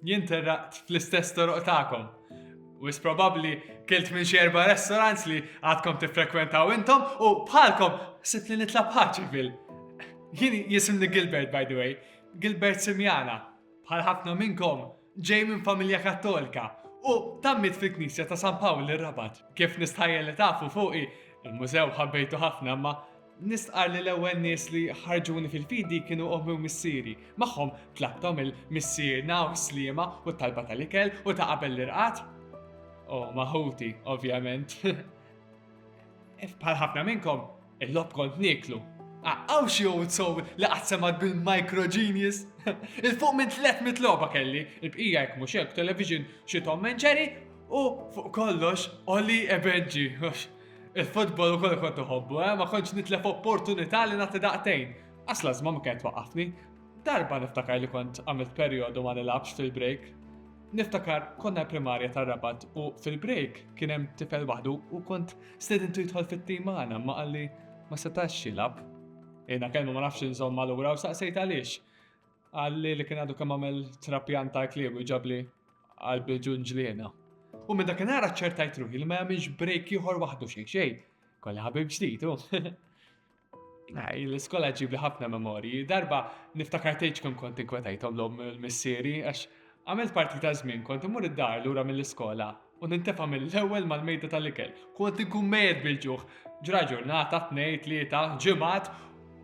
Jien terraqt fl-istess toroq tagħkom. Wis probabbli kilt minn xi erba' restaurants li għadkom tiffrekwentaw intom u bħalkom sibt li nitla' bħaċi fil. Jien jisimni Gilbert by the way, Gilbert Simjana. Bħal ħafna minnkom Ġej minn familja Kattolika u tammit fil-Knisja ta' San Pawl ir-Rabat. Kif nistħajja li tafu fuqi, il-mużew ħabbejtu ħafna ma' nistqar li l-ewwel nies li ħarġuni fil-fidi kienu ommi u missieri. Magħhom tlabtom il-missierna u sliema u talba tal-ikel u ta' qabel l-irqat. U maħuti, ovvjament. Bħal ħafna minnkom, Il-logħob kont nieklu. Hawn xi għud sew li qatt semgħet bil-microgenius? Il-fuq minn 300 logħba kelli, il-bqija jekk mhux hekk television, xi Tom and Jerry u fuq kollox Ollie e Benji. Il-futbol ukoll kont iħobbu, eh, ma kontx nitlef opportunità li nagħti daqtejn. Għas lażma ma kienet waqafni. Darba niftakar li kont għamilt perjodu ma nilabx fil-break. Niftakar konna primarja tar-rabat u fil-break kien hemm tifel waħdu u kont Stedintu jidħol fit-tim magħna imma qalli ma setax jilgħab. Jiena kelmu ma nafx inżomm malura u saqsejt għaliex. Qalli li kien għadu kemm għamel trapjant ta' klieb u ġabli qalbi ġunġliena. U minn dakinhar aċċertajt ruħi li ma jagħmilx break ieħor waħdu xejn xejn. Kolli ħabib ġdid hu. L-iskola ġibli ħafna memorji. Darba niftakar tgħid kemm kont inkwetajthom l-om missieri għax għamilt parti ta' żmien kont imur id-dar lura mill-iskola u nintefa' mill-ewwel mal-mejda tal-ikel. Kont inkun mejjet bil-ġuħ. Ġra ġurnata, tnejn, tlieta, ġimgħat,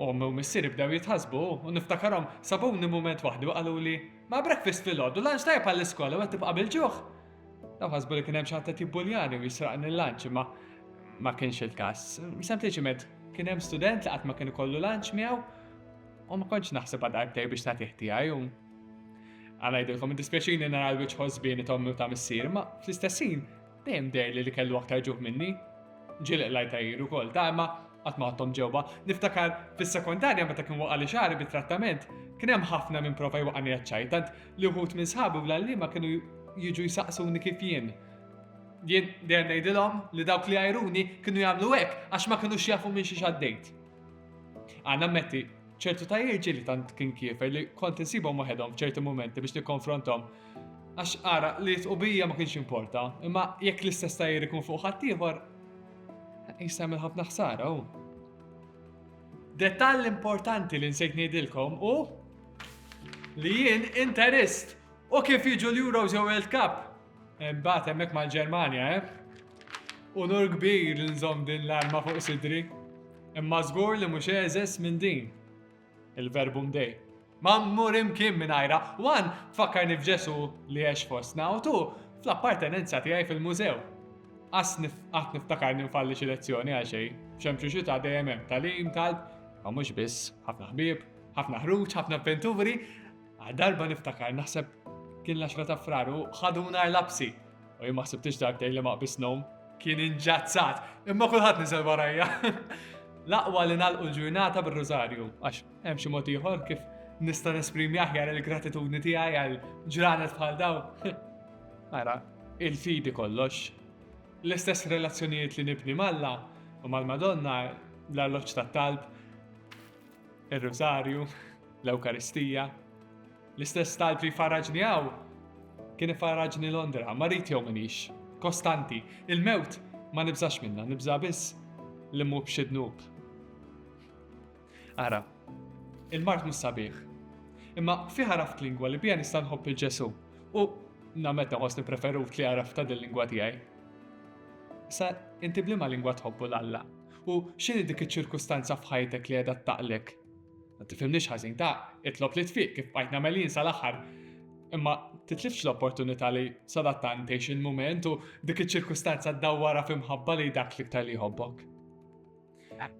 omm u missieri bdew jitħassbu u niftakarhom sabuni mument waħdu qaluli, Ma' breakfast filgħodu, lunch tajjeb għall-iskola u qed tibqa' bil-ġuħ? Dawn ħasbu li kien hemm xi ħadd qed jibbuljani u jisraqni l-lunch imma ma kienx il-każ. Sempliċiment kien hemm student li qatt ma kien ikollu lunch miegħu u ma kontx naħseb għad darbtej biex nagħtih tiegħi u għanajdilkom id-dispjaċini nara l-wiċċ ħosbieni tommi u ta' missier, ma fl-istessin dejjem dejli li kellu aktar ġuħ minni. Ġilq lajta jiru kol, ta' imma qatt ma ħadthom ġewwa. Niftakar fis-sekondarja meta kien waqa' li xagħri bit-trattament, kien hemm ħafna minn prova jwaqani għaċċaj, tant Li wħud minn sħabi u l-għalliema kienu jiġu jsaqsuni kif jien. Jien dejjem ngħidilhom li dawk li jgħajruni kienu jagħmlu hekk għax ma kinux jafu minn xi xaddejt. Għanna metti, ċertu ta' jirġi li tant kien kiefer li kont insibhom waħedhom f'ċerti momenti biex nikkonfrontom. Għax ara li tqubija ma kienx importa, imma jekk l-istess tajjer ikun fuq ħaddieħor, jisem il-ħafna ħsara u. Detall importanti li nsejt ngħidilkom u li jien interist u kif jiġu l-Euros jew World Cup. Imbagħad hemmhekk mal-Ġermanja, eh? Unur kbir li nżomm din l-arma fuq sidri. Imma żgur li mhux eżes minn din. Il-verbu mdej. Ma mmur imkien minn ajra, wan tfakkarni f'Ġesu li għex fostna u tu fl-appartenenza tiegħi fil-mużew. Qas qatt niftakar ninfalli xi lezzjoni għal xejn, xemxu xi ta' dejjem hemm talim, talb, ma mhux biss, ħafna ħbieb, Ħafna ħruġ, ħafna avventuri, darba niftakar naħseb kien l-10 ta' fraru ħaduna l-lapsi. U jien ma ħsibtix darbtejn li ma qbisnom kien inġazzat, imma kulħadd niżel warajja. L-aqwa li nalqu l-ġurnata bir-rużarju, għax hemm xi mod ieħor kif nista' nesprimi aħjar il-gratitudni tiegħi għal ġranet bħal daw. Ara, il-fidi kollox. L-istess relazzjonijiet li nibni malla u mal-Madonna l-alloċ tat-talb Ir-Rużarju, l-Ewkaristija, l-istess talb li farraġni hawn kien ifarraġni Londra, marit jew minix, kostanti, il-mewt ma nibżax minna, nibża biss li mhu b'xi dnub. Ara, il-mart mhux sabiħ. Imma fi ħaraft lingwa li bija nista' nħobb il-Ġesu u namet naħos nipreferut li għaraf ta' dil-lingwa tiegħi. Sa inti blima lingwa tħobbu l-Alla U x'inhi dik iċ-ċirkustanza f'ħajtek li qiegħda ttaqlek? Ma tifhimnix ħażin, ta' itlob li tfiq kif bqajt nagħmel jien sal-aħħar. Imma titlifx l-opportunità li sadattant tgħix il-mument u dik iċ-ċirkustanza ddawwarha f'imħabba li dak l-iktar li jħobbok.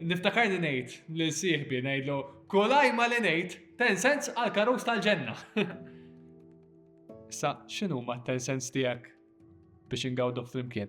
Niftakarni ngħid lil sieħbi ngħidlu kull ajma li ngħid ten sens għal karus tal-ġenna. Sa x'inhu ma ten sens tiegħek biex ingawdu flimkien?